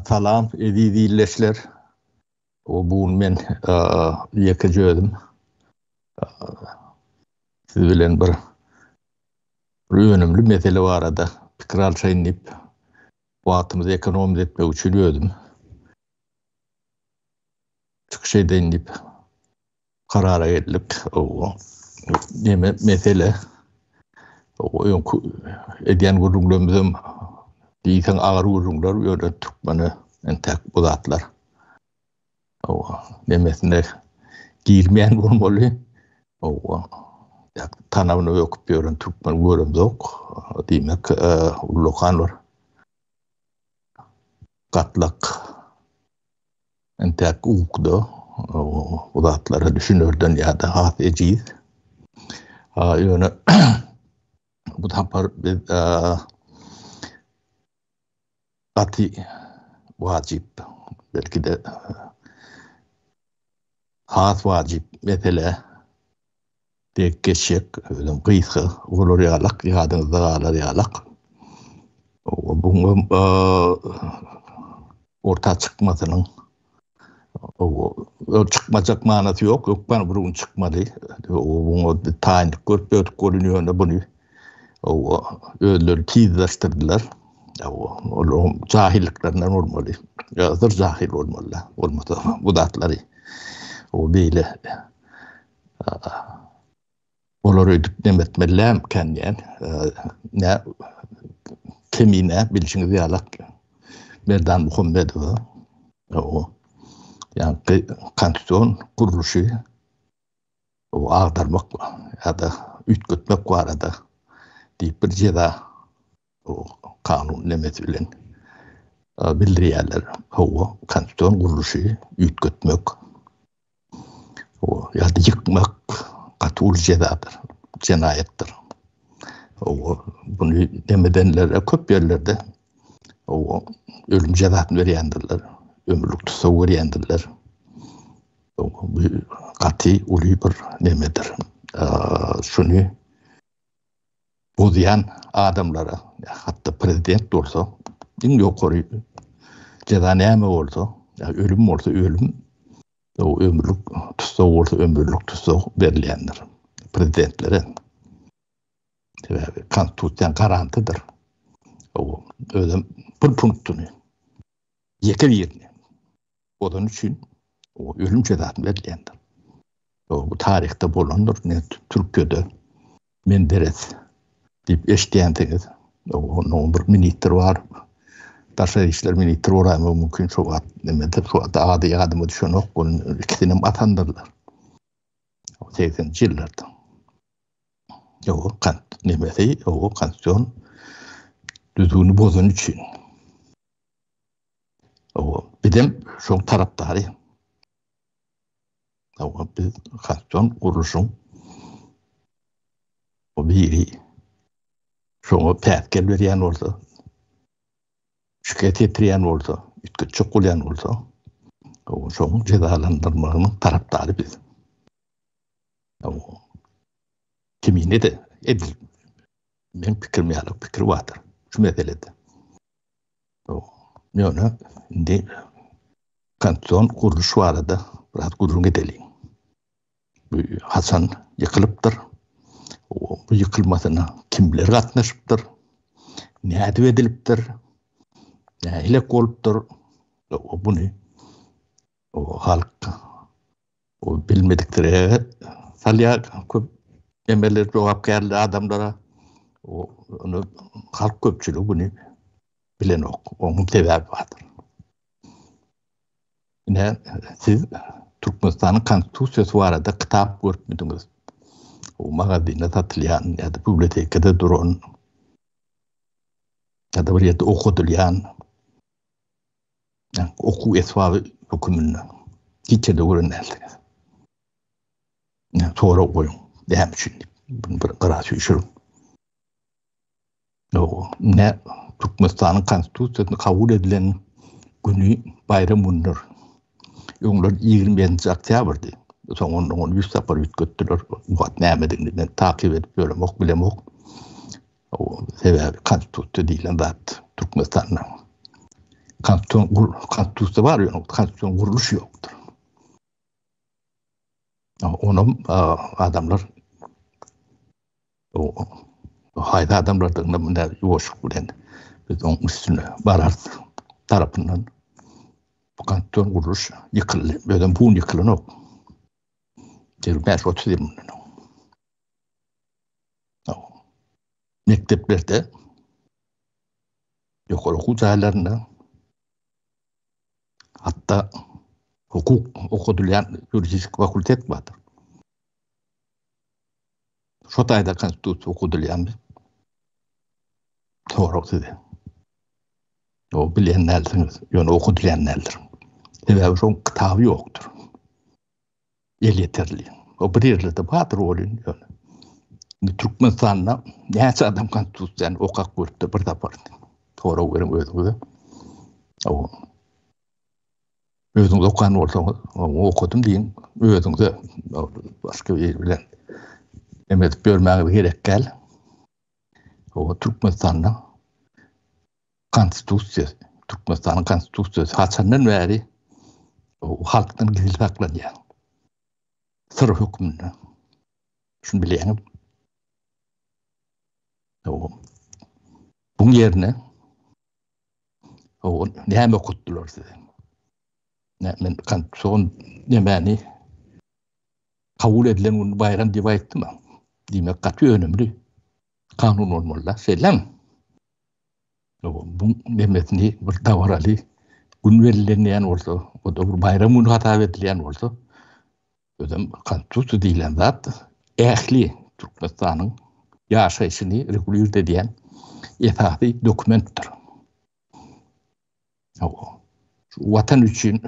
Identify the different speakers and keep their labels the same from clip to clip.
Speaker 1: Salam eziz illeşler. O bu gün men ýeke jözüm. Siz bilen bir önümli mesele barada pikir alşaýyn diýip, wagtymyzy ekonomiýa etmek üçin özüm çykyş edeýin diýip Karara geldik. Owa. Neme mesele? Owa, öňki edýän gürrüňlerimiz hem diýseň agyr gürrüňler, ýöne türkmene entäk bu zatlar. Owa, nemesine girmeýän bolmaly. Owa. Tanabyna öküp ýören türkmen göremzok. Diýmek, ullakan bir gatlak Entäk uwkda bu zatlara düşünerden ýa-da has ejiz. Ýöne bu sapar biz gaty wajyp, belki-de has wajyp mesele, Dek geçjek, özem gysga, bolar ýalak, ýadyňyzda galar ýalak. Buňam orta çykmasynyň ol çykmajak manasy ýok, hökman bir gün çykmaly. Oňa taýynlyk görüp döwdük bolun ýöne buny özleri tizleşdirdiler. Olaryň jahyllyklarynyň bolmaly. Ýa-da jahyl bolmalylar. Bolmasa bu zatlary o beýle Olar öýdüp neme etmelilämkän diýen. Nä kemine bilşiňiz ýalak Merdan Muhammedowa. O ýa-da konstitusion gurluşy agdarmak ýa-da üýtgetmek barada diýip bir jeza Bu kanun nemesi bilen bildirýärler. Hawa, konstitusion gurluşy üýtgetmek ýa-da ýykmak gaty uly jezadyr, jenaýatdyr. Hawa, buny nemedenler, köp ýerlerde hawa, ölüm jezasyny berýändirler, ömürlik tussag berýändirler. Hawa, bu gaty uly bir nemedir. Şuny bozýan adamlara, hatda prezident bolsa, iň ýokary jeza näme bolsa, ölüm bolsa ölüm, ömürlik tussag bolsa ömürlik tussag berilýändir prezidentlere. Sebäbi konstitusiýa garantydyr. Özüm bir punktyny, ýeke birini Ozan üçin o ölüm cezasy berilýändir. O bu taryhda bolandyr. Ne Türkiýede men deret diýip eşitýänsiňiz. Onuň bir ministr bar. Daşa işler ministr bolan mümkin şu wagt neme de şu wagt ady ýadyma düşenok. Ol ikisini hem atandyrlar. O 80 ýyllarda. O kan neme de o konstitusiýa düzgüni bozan üçin. Bizem şoň tarapdary. Hawa, biz Kaston gurluşyň o biri şoňa päsgel berýän bolsa, şikes ýetirýän bolsa, üýtgetjek bolýan bolsa, şoň jezalandyrmagynyň tarapdary biz. Kimine-de edil men pikirim ýaly pikir bardyr şu meselede. Ýöne indi konstitusion gurluş barada biraz gürrüň edeliň. Bu haçan ýykylypdyr? Bu ýykylmasyna kimler gatnaşypdyr? Nädip edilipdir? Nähili bolupdyr? Buny halk O bilmedikleri ýere salýar, köp emeler jogapkärli adamlara. O ony halk köpçüligi güni bilenok. Onuň sebäbi bardyr. Ine, siz Türkmenistanyň Konstitusiýasy barada kitap görüpmidiňiz? O magazinde satylýan ýa-da bibliotekada duran ýa-da bir ýerde okadylýan okuw esbaby höküminde hiç ýerde gören däldiňiz. Sorag goýuň, näme üçin bunu bir gara süýşüriň. Ne Türkmenistanyň konstitusiýasyny kabul edilen güni baýram gündür. Öňler 25-nji oktýabrdy. Soň ondan ony 100 sapar üýtgetdiler. Bu wagt nämedigini men takyp edip ýöremok, bilemok. Sebäbi konstitusiýa diýlen zat Türkmenistanda konstitusiýa bar, ýöne konstitusion gurluş ýokdur. Onam adamlar haýsy adamlardygyna munda ýuwaşlyk bilen biz onuň üstüne bararys tarapyndan bu konstitusion gurluş ýykyldy. Özem bu gün ýykylanok. Ýigrimi bäş-otuz ýyl mundan öň. mekdeplerde, ýokary okuw jaýlarynda, hatda hukuk okadylýan ýuridik fakultet bardyr. Şu taýda konstitusiýa okadylýandy. Sorag size. O bilen näldiniz? Ýöne okadylýan däldir. Sebäbi şoň kitaby ýokdur. Elýeterli. O bir ýerlerde bardyr welin ýöne. Indi Türkmenistanda näçe adam konstitusiýany okap görüpdir bir sapar. Sorag beriň özüňize. O. Özüňiz okan bolsaňyz, onu okadym diýiň, özüňize başga biri bilen emedip ýörmäňiz gerek däl. O Türkmenistanda Konstitusiýasy, Türkmenistanyň Konstitusiýasy haçandan bäri halkdan gizli saklanýar. Syr hökmünde. Şuny bilýäňiz. Buň ýerine Ogun, näme okutdylar size? Men kanun nämäni kabul edilen gün bayram diýip aýtdymy? Diýmek, gaty önümli kanun bolmaly-da, şeýlemi? Bu demesini bir dabaraly gün bellenýän bolsa, o da bir baýram güni hasap edilýän bolsa, özem Konstitusiýa diýlen zat ähli Türkmenistanyň ýaşaýşyny regulirt edýän esasy dokumentdir. Watan üçin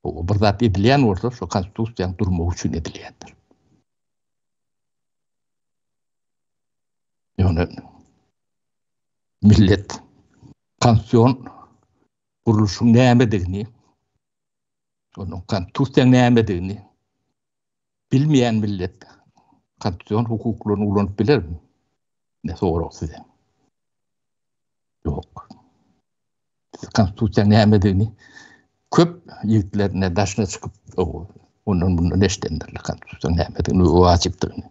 Speaker 1: Bir zat edilýän bolsa, şo Konstitusiýanyň durmagy üçin edilýändir. Ýöne millet Konstitusion gurluşyň nämedigini, onuň Konstitusiýanyň nämedigini bilmeýän millet konstitusion hukuklaryny ulanyp bilermi? Ne sorag size? Ýok. Siz konstitusiýa nämedigini köp ýigitlerine daşyna çykyp, ondan bundan eşdendirler konstitusiýa nämedigini, wajypdygyny.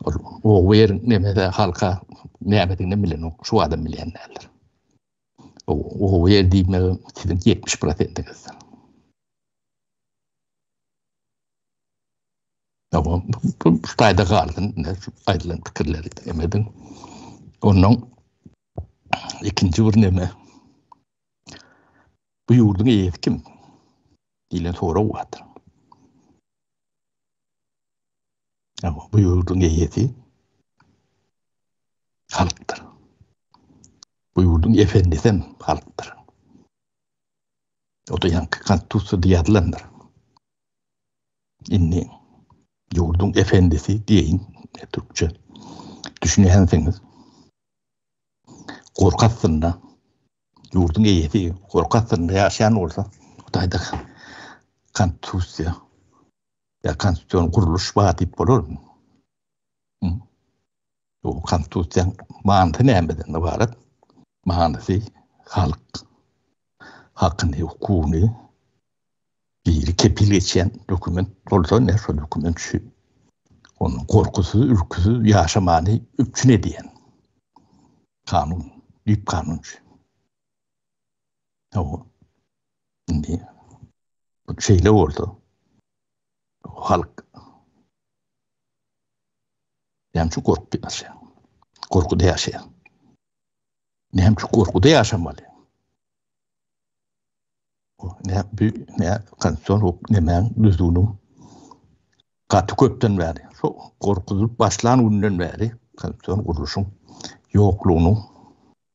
Speaker 1: Ol o ýer nemede halka nämedigini bilenok, şu adam bilen däldir. Gowy ýer diýmegim siziň ýetmiş prosentiňiz. Tamam, bu taýda galsyn, aýdylan pikirleri emediň. Ondan ikinji bir näme? Bu ýurduň eýesi kim? diýlen sorag bar. Ýa-da bu ýurduň eýesi halkdyr. Bu ýurduň efendisi hem halkdyr. O-da ýaňky Konstitusiýada ýazylandyr. Indi ýurduň efendisi diýeýin, türkçe düşünýänsiňiz. Gorky astynda, ýurduň eýesi gorky astynda ýaşaýan bolsa, Hudaýda Konstitusiýa Ýa konstitusion gurluş bar diýip bolarmy? Bu konstitusiýaň manysy nämeden ybarat? Manysy halk hakyny, hukugyny biri kepil geçýän dokument bolsa, ine şol dokument şu. Onuň gorkusyz, ürküsiz ýaşamany üpjün edýän kanun, düýp kanun şu. Indi bu şeýle bolsa, halk näme üçin gorkup ýaşaýar? Gorkuda ýaşaýar. Näme üçin gorkuda ýaşamaly? Ne bu ne konstitusion hukuk nemäň düzgüniň gaty köpden bäri, şu gorkuzylyp başlan günden bäri konstitusion gurluşyň ýoklugynyň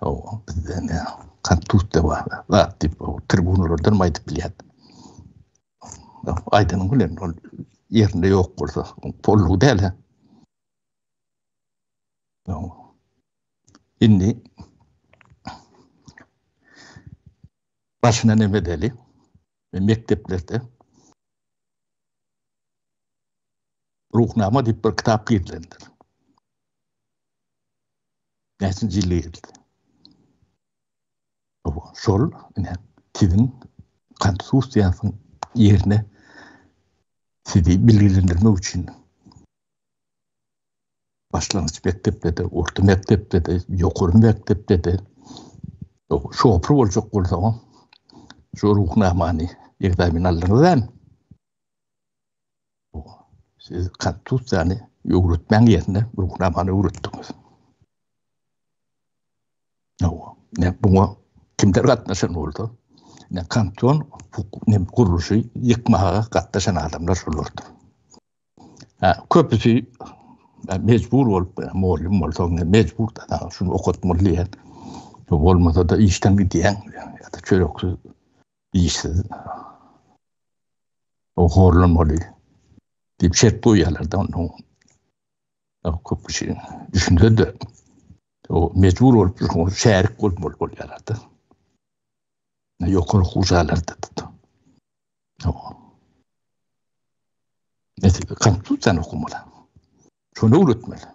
Speaker 1: Hawa, bizde indi Konstitusiýada bar zat diýip, tribunalardanam aýdyp bilýän. Aýdanyň bilen ol ýerinde ýok bolsa, boldugy däl-ä. Indi başyna näme edeli? Mekdeplerde Ruhnama diýip bir kitap girilendir. Näçe jilleýin. Şol ine siziň konstitusiýanyň ýerine sizi bilgilendirmek üçin başlangyç mekdepde-de, orta mekdepde-de, ýokary mekdepde-de şopur boljak bolsaňam, şu ruhnamany ekzamen aldyňyzam, Siz Konstitusiýany öwretmäň ýerine Ruhnamany öwretdiňiz. Hawa, ne buňa kimler gatnaşan bolsa, ne kanton ne gurluşy ýykmaga gatnaşan adamlar şolardyr. Ha, köpüsi mejbur bolup, mugallym bolsa, mejbur da şuny okatmaly diýen. Bolmasa da işden gidýän, ýa-da çöreksiz işsiz o horlanmaly diýip şert goýýarlar-da onda köp kişi düşünse-de o mejbur bolup şoňa şärik bolmaly bolýarlar-da. Ýokary okuw jaýlarynda-da. Konstitusiýany okumaly. Şony öwretmeli.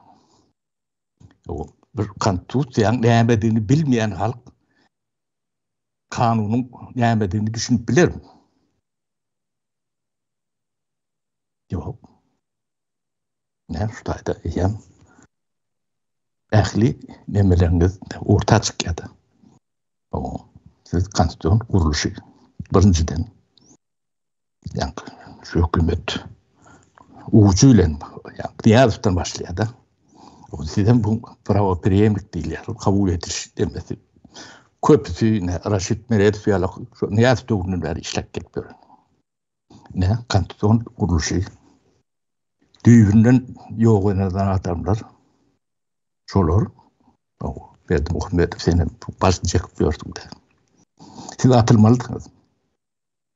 Speaker 1: Bir konstitusiýanyň nämedigini bilmeýän halk kanunyň nämedigini düşünip bilermi? Ýok. Näme şu taýda eýýäm ähli nemeleriňiz orta çykýar-da. Siz konstitusion gurluşy birinjiden Ýa-da şu hökümet uçy bilen ýa-da başlaýar da. O sizem bu prawa premýerlik diýilýär, kabul ediş demesi. Köpüsi ne Raşid Meredow ýaly şu Niýaz döwründen bäri işläp gelip ýör. Ne konstitusion gurluşy düýbünden ýok eden adamlar şolar o Berdi Muhammedow seni baş çekip ýörsüň de. Siz atylmalydyňyz.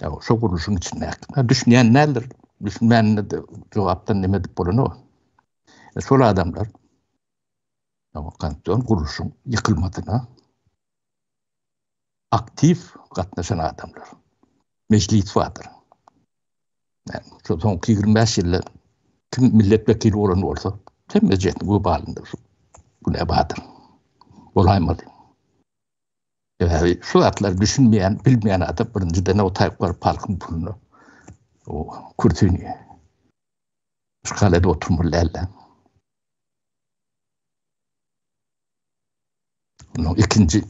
Speaker 1: Ya şu gurluşyň içinde. Ha düşünýän näler? Düşünmänini de jogapdan näme edip bolany? E, şol adamlar Ya kanton gurluşyň ýykylmadyna aktiw gatnaşan adamlar. Meclis wadyr. Ya şu son 25 ýylda kim millet wekili bolan bolsa, kim meclis bu balynda şu. Bu ne wadyr? Bolaýmady. Sebäbi şu zatlar düşünmeýän, bilmeýän adam birinjiden o taýyp baryp halkyň puluny o kürsini işgal edip oturmaly däldi. Ondan ikinji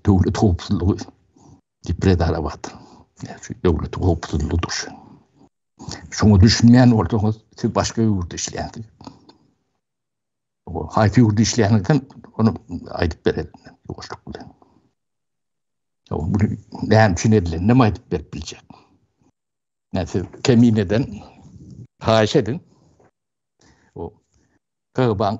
Speaker 1: döwlet howpsuzlygy diýip bir edara bardy. Yani şu döwlet howpsuzlygy durşy. Şoňa düşünmeýän bolsaňyz, siz başga ýurtda işleýänsiz. Haýsy ýurda işleýäňizden ony aýdyp bereliň ýuwaşlyk bilen. Ýok, bu näme üçin edilenini hem aýdyp berip biljek. Näme siz kemineden haýyş ediň. O Gyrban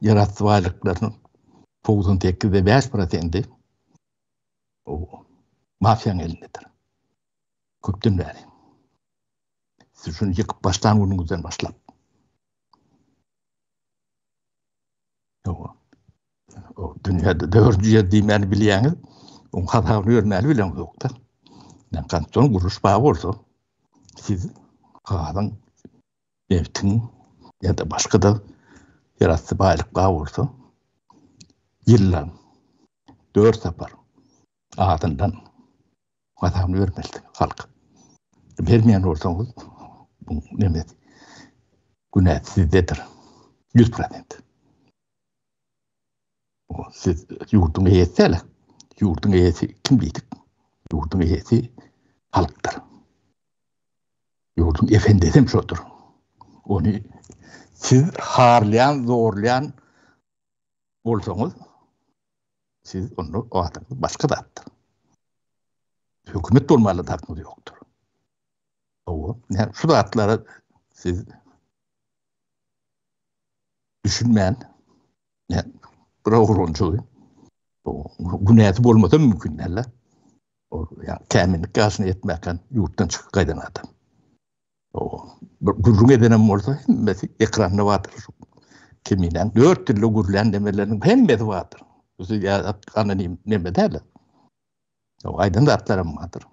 Speaker 1: ýerasty baýlyklarynyň togsan sekizde bäş prosenti mafiýanyň elindedir. Köpden bäri. Siz şuny ýykyp başlan günüňizden başlap. O dünýäde dördünji ýer diýmäni bilýäňiz, oň hasabyny görmäli bilen ýokda. Men kanton guruş bar bolsa, siz gazyň nebtiň ýa-da başga-da ýerasty baýlyklar bolsa ýylda dört sapar azyndan hasabyny bermelidir halk. Bermeýän bolsaňyz, bu neme, günä sizdedir, ýüz prosent. siz ýurduň eýesi däl, ýurduň eýesi kim diýdik? Ýurduň eýesi halkdyr. Ýurduň efendisi hem şodur. Ony siz harlaýan, zorlaýan bolsaňyz, siz onda adyňyz başga zatdyr. Hökümet bolmaly zatymyz ýokdur. Owa, ne şu zatlara siz düşünmän, Ne, bir oglançygy. Bu günäsi bolmasa mümkin däl. O ya käminlik ýaşyna ýetmäken ýurtdan çykyp gaýdan adam. O bir gürrüň edenem bolsa hemmesi ekranda bardyr. Kiminden dört dilde gürlän demeleriniň hemmesi bardyr. Bizi ýa anonim neme däl. O aýdan zatlaram bardyr.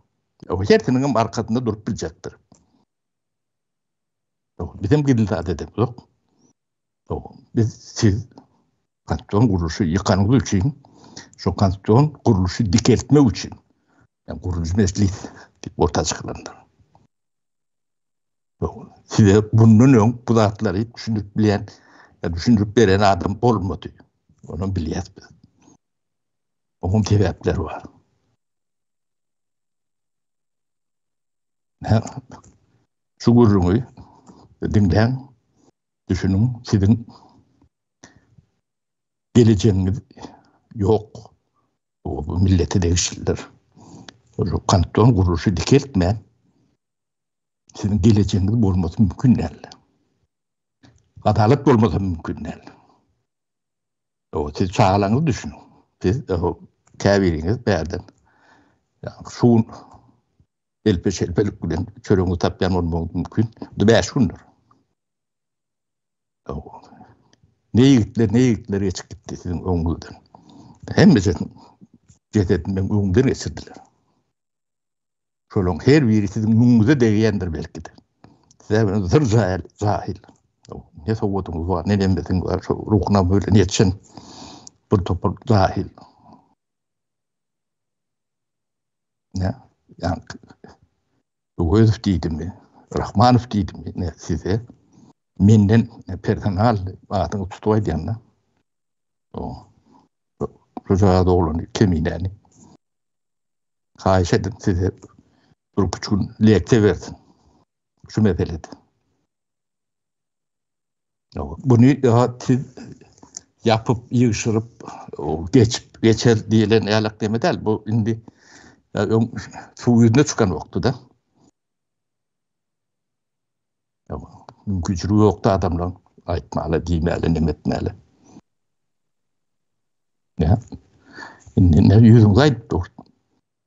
Speaker 1: O hersiniň hem arkasynda durup biljekdir. Bizim gidildi dedim, yok. Biz siz konstitusion gurluşy ýykanyňyz üçin şu konstitusion gurluşy dikeltmek üçin yani guruluşy meclis diýip orta çykylandyr. Size bundan öň bu zatlary düşündirip bilen ya düşündirip beren adam olmadı. Onu bilýäs biz. Oňuň sebäpleri bar. Şu gürrüňi diňläň. Düşüniň, siziň gelejegiňiz ýok. Bu millete degişlidir. Ol kanton gurluşy dikeltmän, siziň gelejegiňiz bolmasy mümkin däl. Adalat bolmasy mümkin däl. Ýa-da siz çagalaryňyzy düşüniň. Siz käbiriňiz bärden şu Elpe-şelpelik bilen çöregiňi tapýan bolmagyň mümkin. Bu bäş gündür. Ne ýigitler, ne ýigitler geçip gitdi siziň öňüňizden. Hemmesi jesedinden öňden geçirdiler. Şolaryň her biri siziň müňüňize degýändir belki-de. Size bilen zır jahil, jahil. Ne sowudyňyz bar, ne nemmesiň bar, şu ruhuna bilen ýetişen bir topar jahil. Ne? Yani Öwezow diýdimi? Rahmanow diýdimi? Ne size? Menden personal adyny tutup aýdýanda. O. Rüzgar oglany keminäni. Haýyş edip size bir küçük lekte bersin. Şu meselede. Buny siz ýapyp, ýygşyryp geçip geçer diýlen ýalak deme däl. Bu indi öň suw ýüzüne çykan wagty-da. Mümkinçiligi ýokdy adamlaryň aýtmaly, diýmeli, neme etmeli. Indi näme ýüzüňizi aýdyp dur.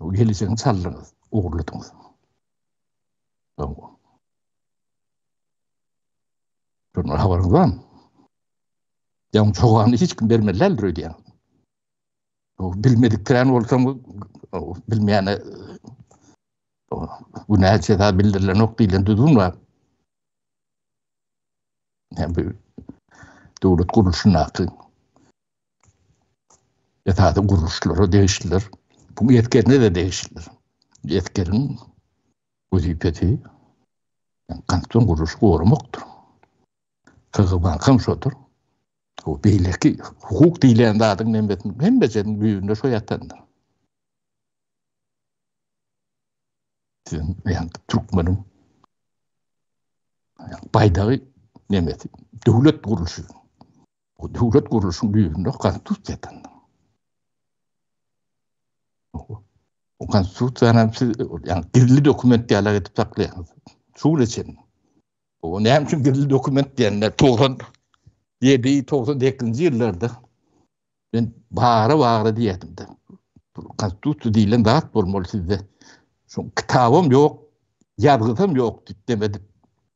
Speaker 1: Gelişigiň çaldyňyz, ogurladyňyz. Şondan habaryňyz barmy? Ýa jogany hiç kim bermeli däldir öýdýän. O bilmedik kran bolsaň, bilmeýäne bu näçe zat bildirilen ok diýlen düzgün bar. Hem bu döwlet gurluşyndaky esasy gurluşlara degişlidir. Bu geçgende de degişlidir. Geçgeniň wezipesi kanton gurluşy goramakdyr. Kygbankan şodur. O beýleki hukuk diýilýän zadyň hemmesini hemmesiniň düýbünde şo ýatandyr. Sizin ýa-da türkmeniň baýdagy nemesi, döwlet gurluşy. O döwlet gurluşyň düýbünde konstitusiýa tandyň. O konstitusiýany siz ýa gizli dokument diýerler edip saklaýaňyz. Şu gün üçin. O näme üçin gizli dokument diýende 97 98-nji ýyllarda men bara bara diýerdim de. Konstitusiýa diýlen zat bolmaly sizde. Şu kitabym ýok, ýazgysam ýok diýip demedim.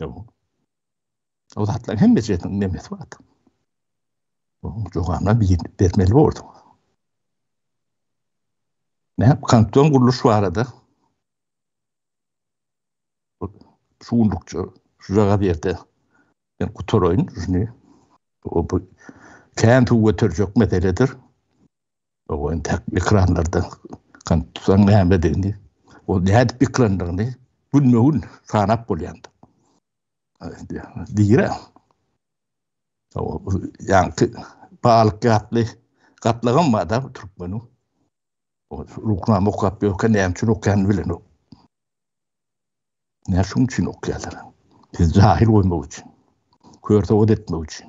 Speaker 1: Ýok. O zatlaryň hemmesiniň nemesi bardy. Onuň jogabyna bermeli boldum. Näp kanton gurluş barada şu günlükçe şu jaga berdi. Ben kutaraýyn şuny. O bu kän suw göterjek meseledir. Oba entek ekranlarda kompýuteriň nämedigini, ol nädip pikirlendigini günme-gün sanap bolýandy. Diýre. Ýaňky balyk ýatly gatlagam barda türkmeniň. O ruhnama okap ýökä näme üçin okýanyny bilenok. Näme şuň üçin okýarlar? Biz jahil goýmak üçin. Kör sowat etmek üçin.